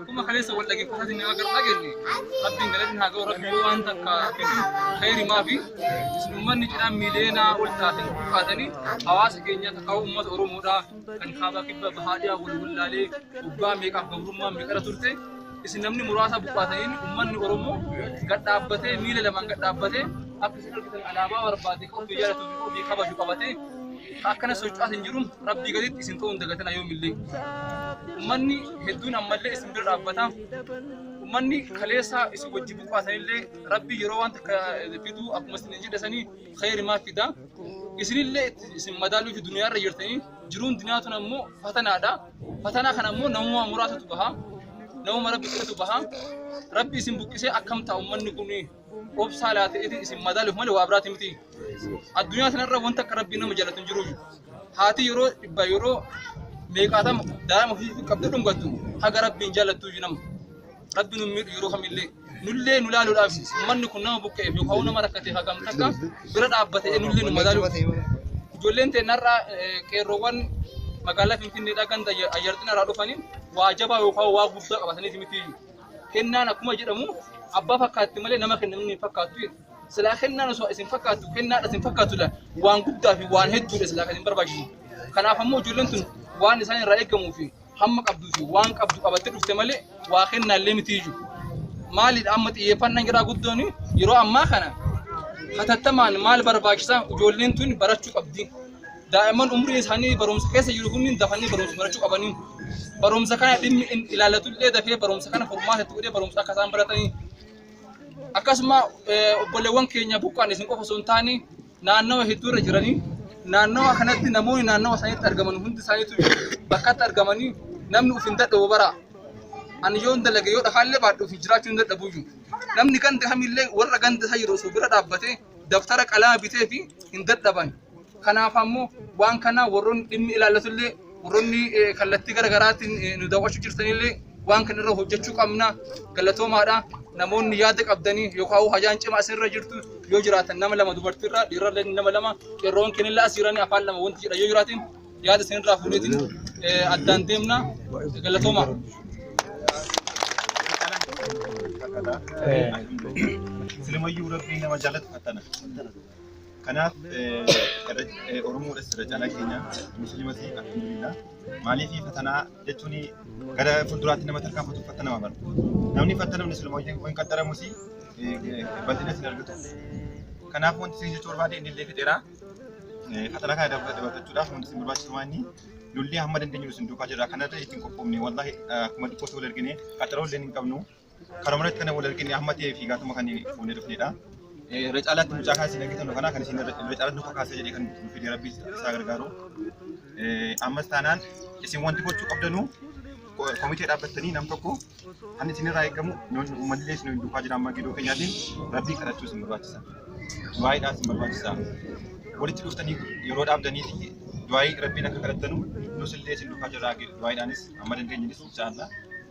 Akkuma kaleessa wal dhaggeeffataa jirru akka dhageenye rabbiin galanni haa ga'u rabbi yoo waan takka kennu khayri maafi uummanni cidhaan miileenaa ol taate kaatanii hawaasa keenya takka uummata Oromoodhaa kan kaabaa kibba bahaadhiyaa wal wallaalee waggaa meeqaaf gabrummaa meeqara turte isin namni muraasa buqqaataniin uummanni Oromoo gad dhaabbatee miila lamaan gad dhaabbatee akka isin argitan alaabaa barbaade kan ofii jaalatu fi ofii kabaju qabatee Ka akkana socho'aa isin jiruun Rabbii gaditti isin ta'uun dagatina yoomillee. Ummanni hedduun ammallee isin bira dhaabbata. Ummanni kaleessaa isin wajji buqqaatanillee Rabbii yeroo waan takka fiduu akkuma isin jedhe sanii khayrimaa fida. Isinillee itti isin madaaluu fi duniyaarra jirtanii jiruun duniyaa tun ammoo fatanaadha. Fatanaa kana ammoo namuma muraasatu baha. Namuma Rabbi qofatu baha. Rabbi isin buqqisee akkam ta'a ummanni kuni? obsaa laatee isin madaaluuf malee waa biraati miti. Addunyaa sanarra wanta akka rabbiin nama jaalatu hin jiru. Haati yeroo dhibba yeroo meeqaatama daa'ima ofii qabdee dhungattu haga rabbiin jaallattu iyyuu nama. Rabbi nu miidhu yeroo kamillee nullee nu laaluudhaaf manni kun nama buqqa'eef yookaan nama rakkatee hagam takka bira dhaabbatee nullee nu madaaluuf. Ijoolleen teennarraa qeerroowwan magaalaa Finfinneedhaa ganda ayyarxina irraa dhufanii waa jabaa yookaan waa guddaa qabataniiti miti. Kennaan akkuma jedhamu abbaa fakkaatti malee nama kenna namni hin fakkaattu jedhu. Silaa kennaan osoo isin fakkaattu kennaadha isin fakkaattu dha. Waan guddaa fi waan hedduudha silaa kan isin barbaachisu. Kanaaf ammoo ijoolleen tun waan isaan irraa eegamuu fi hamma qabduu fi waan qabdu qabattee dhufte malee waa kennaallee miti iyyuu. Maalidha amma xiyyeeffannaan jiraa guddoon yeroo ammaa kana hatattamaan maal barbaachisaa ijoolleen tun barachuu qabdi. Daa'imman umriin isaanii barumsa keessa jiru kunniin dafanii barumsa barachuu qabanii barumsa kana dhimmi hin ilaallatu illee dafee barumsa kana furmaata itti godhee barumsa akka isaan baratanii akkasuma eh, obboleewwan keenya buqqaan isin qofa osoo hin taane naannawa hedduu irra jiranii naannawa kanatti namoonni naannawa isaaniitti argaman hundi isaaniitu bakkatti argamanii namni of hin dadhabu bara ani yoo hin dalage yoo dhafaallee baadhu fi jiraachuu hin dadhabu iyyuu namni ganda kamillee warra ganda isaa jiru osoo bira dhaabbatee daftara qalama bitee fi hin dadhaban Kanaaf ammoo waan kana warroonni dhimmi ilaallatullee warroonni kallattii gara garaatiin nu daawwachuu jirtanillee waan kana irra hojjechuu qabna galatoomaadha. Namoonni yaada qabdanii yookaan hajaan cimaa isinirra jirtu yoo jiraatan nama lama dubartiirra dhiirallee nama lama qeerroon kennillee as jiranii afaan lama wanti jedha yoo jiraatiin yaada isinirraa fuudheetiin addaan deemna galatoomaa. Silimayyuu rabbiin nama jaalatu fattana. Kanaaf Oromoodhas irra caalaa keenya musliimas alhamdulillah. Maaliif fatanaa jechuun gara fuulduraatti nama tarkaanfatu fattanama bara. Namni fattanamu siluma hin qaxxaramus bal'ina sin argatu. Kanaaf wanti isin jechuu barbaade inni illee fixeera. Fatana kana dabarfachuudhaaf wanti isin barbaachisu waan inni lolli hamma dandeenyu isin duukaa jira. Kanarra ittiin qophoofne wallaahi akkuma xiqqoo ta'uu argine qaxaroo illee hin qabnu. Karuma irratti kan wal argine amma ta'ee fi gaatuma kan fuunee dhufnedha. Irra caalaatti mucaa kan isin argitan kana kan isin irra caalaatti nu kakaasa jedhee kan nu fide rabbi isaa gargaaru. Ammas taanaan isin wanti gochuu qabdanu komitee dhaabbattanii nam tokko kan isin irraa eegamu uummanni illee isin duukaa jira amma gidoo keenyaatiin rabbii kadhachuu isin barbaachisa. Du'aayiidhaa isin barbaachisa. Walitti dhuftanii yeroo dhaabdanii fi du'aayii rabbiin akka kadhattanu nus illee isin duukaa jirra du'aayiidhaanis amma dandeenyunis inshaallaa.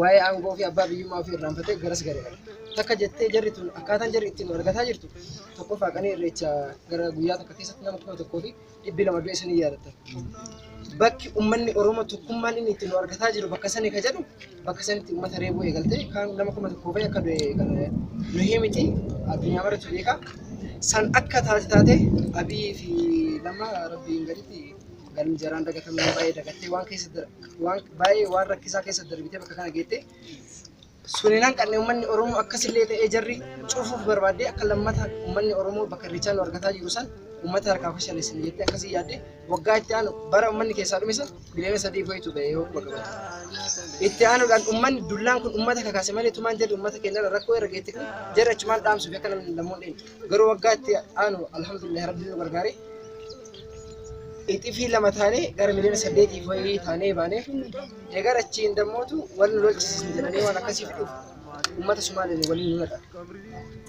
waa'ee aangoo fi abbaa biyyummaa ofii irraanfatee garas gareera. Takka jettee jarri tun akkaataan jarri ittiin wal argataa jirtu tokkoffaa qanii irreecha gara guyyaa takka keessatti nama kuma tokkoo fi dhibbi lama du'e sanii yaadatta. Bakki uummanni Oromoo tokkummaan inni ittiin wal argataa jiru bakka sanii ka jedhu bakka sanitti uummata reebuu eegaltee kaan nama kuma tokkoo fi akka du'e kan nu himiti addunyaa maratu beekaa. San akka taate taate Abiy fi Lammaa Rabbiin gaditti galmi jaraan dagatamuu hin baay'ee dagattee waan keessa dar- waan baay'ee waan rakkisaa keessa darbitee bakka kana geettee suniin hanqanne uummanni Oromoo akkasillee ta'ee jarri cufuuf barbaaddee akka lammata uummanni Oromoo bakka irreechaa nu argataa jiru san uummata harkaa fashaleessan jettee akkasii yaadde waggaa itti aanu bara uummanni keessaa dhume san miliyoona sadii fa'itu ba'ee yoo bakka bate. Itti aanuudhaan uummanni dullaan kun uummata kakaase malee tumaan jedhu uummata keenyarra rakkoo irra geette kun jarri achumaan dhaamsuuf akka namni lammoon dheenye. Garuu waggaa itti aanu alhamdulillah rabbi nu gargaare. Ixifii lama taanee gara miliyoona saddeetiif wayii taanee baane. Egaa achiin dammootu wal nu lolchisiisan jedhanii waan akkasii fiduuf uummata Sumaaleen waliin nu naqan.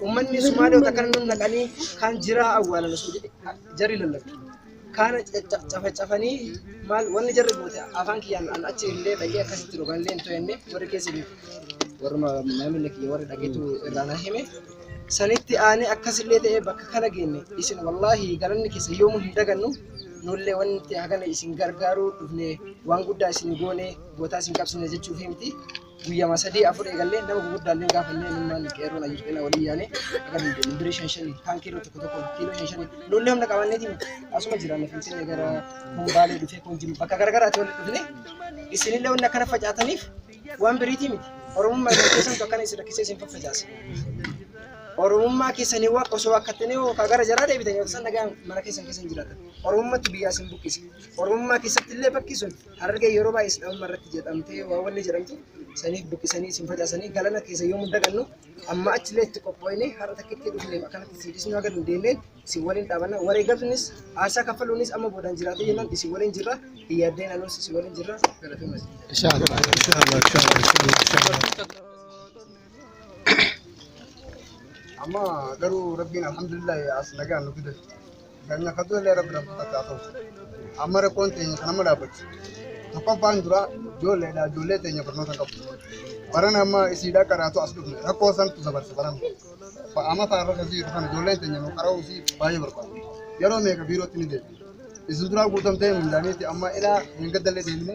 Uummanni Sumaalee takka nu naqanii kan jiraa awwaalan osoo jedhe jarri lallabdu. Kaana cafacafanii maal wanni jarri goote afaan kiyyaan an achi illee dhaqee akkasitti jiru kan illee hin to'enne warri keessa jiru. Warruma maamila kiyya warri dhageetu irraa na hime. Sanitti aanee akkasillee ta'ee bakka kana geenne isin wallaahi galanni keessa yoomuu hin dagannu nullee wanti hagana isin gargaaruu dhufne waan guddaa isin goone gootaa isin qabsine jechuuf himti. guyyama sadii afur eegallee nama gurguddaallee gaafannee ilmaan qeerroon ayyuu qeena walii yaane akka dandeenye birii shan shanii kaan kiiloo tokko tokko kiiloo shan shanii nuullee humna qabanneetiin asuma jiraanne finfinnee gara kumbaalee dhufee kun jiru bakka garagaraatti walitti dhufne isinillee wanni akkana facaataniif waan biriitii miti oromummaa isin keessantu akkana isin rakkisee isin faffacaase oromummaa keessanii waan osoo akkattanii hoo kaa gara jaraa deebitan yoo tasan nagaan mana keessan keessan jiraatan oromummatti biyyaa isin buqqise oromummaa keessatti illee bakki sun Harargeen yeroo baay'ee Sidaamummaa irratti jedhamtee waan wanni jedhamtu saniif buqqisanii isin facaasanii galana keessa yoomuu dagannu amma achillee itti qophooyne har'a takkitti dhufneef akkanatti isin dhisnuu haga dandeenye isin waliin dhaabanna wareegamnis aarsaa kaffaluunis amma boodaan jiraatee jennaan isin waliin jirra hin yaaddeen anuus isin waliin jirra galatoomas. Amma garuu rabbiin alhamdulillah as nagaan nu fide. Keenya akka du'ellee rabbi rabbi bakka haa ta'u. Amma rakkoon teenya kan amma dhaabbachu. Tokkoffaan dura ijoolleedha ijoollee teenya barnoota hin qabdu. Baran amma isiidhaa qaraatu as dhufne rakkoo santu dabarse baran. Amma faarra kan jiru kan ijoolleen teenya nu qara'uu fi baay'ee barbaadu. Yeroo meeqa biirootti ni deebi. Isin duraa guutamtee mindaaniiti amma ilaa hin gaddallee deemne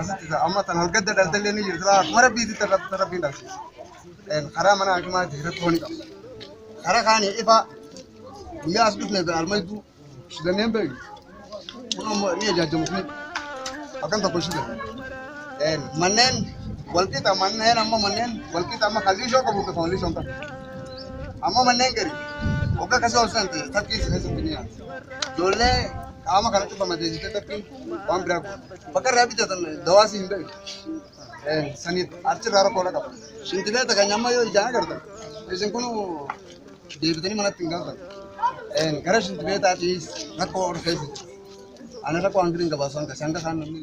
Asitti ta'a. Amma tan horgadda dhalte illee ni jirti. Akkuma rabbiitti tan rabbi- tan rabbiin dhalchiisa. Karaa mana hakimaatti rakkoo ni qaba. Karaa kaanii ifa guyyaa as dhufne bira almaydu shidanneen beeku. Kun ammoo ni ajaajjamu kun akkan tokko shidan. Manneen walqixa manneen amma manneen walqixa amma kan liishoo qabu kan liishoo hin qabu. Amma manneen gari waggaa kasii ol san ta'e takkii isa keessatti ni yaala. Ijoollee qaama kana cufama deesitee takkiin Waan biraa kun. Bakka irraa bitatan dawaa si hin beeku. Saniif achirraa rakkoo qaba. Shintibeeta kan amma yoo ijaan agartan isin kun deebitanii manatti hin galtan. Gara shintibeetaatiis rakkoo ol keessa. Ana rakkoo hanqina hin qabaasan kan sanga isaan namni.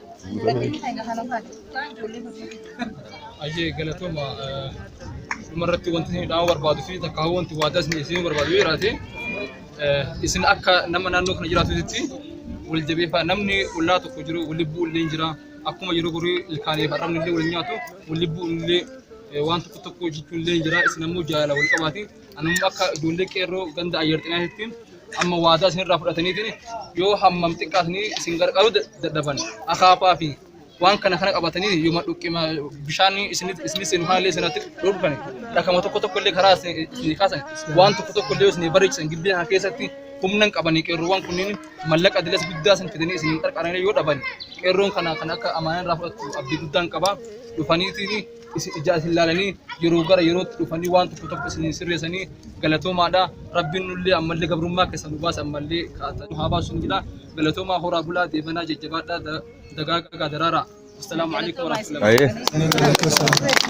Ajee galatooma dhumarratti wanti isin dhaamuu barbaadu fi takka hawwa wanti waadaa isin isin barbaadu yoo jiraate isin akka nama naannoo kana jiraatutti wal jabeeffaa namni ollaa tokko jiru wal lubbuu illee jira akkuma yeroo gorii ilkaanii fi arrabni illee wal nyaatu wal lubbuu illee waan tokko tokko jechuun illee jira isin ammoo jaalala wal qabaati Anumma akka ijoollee qeerroo ganda ayyar xinaatitti amma waadaa isinirraa fudhataniitiin yoo hammam xiqqaatanii isin gargaaruu dadhaban akaafaa fi waan kana kana qabatanii yoo madhuqqima bishaan isin seenu kanallee isinatti dhorkan dhakama tokko tokko illee karaa isin kaasan waan tokko tokko illee isin bareechisan giddee kana keessatti humna hin qabanii qeerroowwan kunniin mallaqa dilas guddaa isin fidanii isin qarqaranii yoo dhaban qeerroon kana kan akka amaanaa irraa fudhattu abdii guddaan qaba dhufaniitiin isin ijaa isin laalanii yeroo gara yerootti dhufanii waan tokko tokko isin hin sirreessanii galatoomaadha. Rabbiin nullee ammallee gabrummaa keessa nu baasa ammallee kaata nu haa baasu isin jedha. Galatoomaa horaa bulaa deebanaa jajjabaadhaa da- dagaagaa daraaraa. Assalaamu alaikum warahmatullahi Aye. Galatoomaa.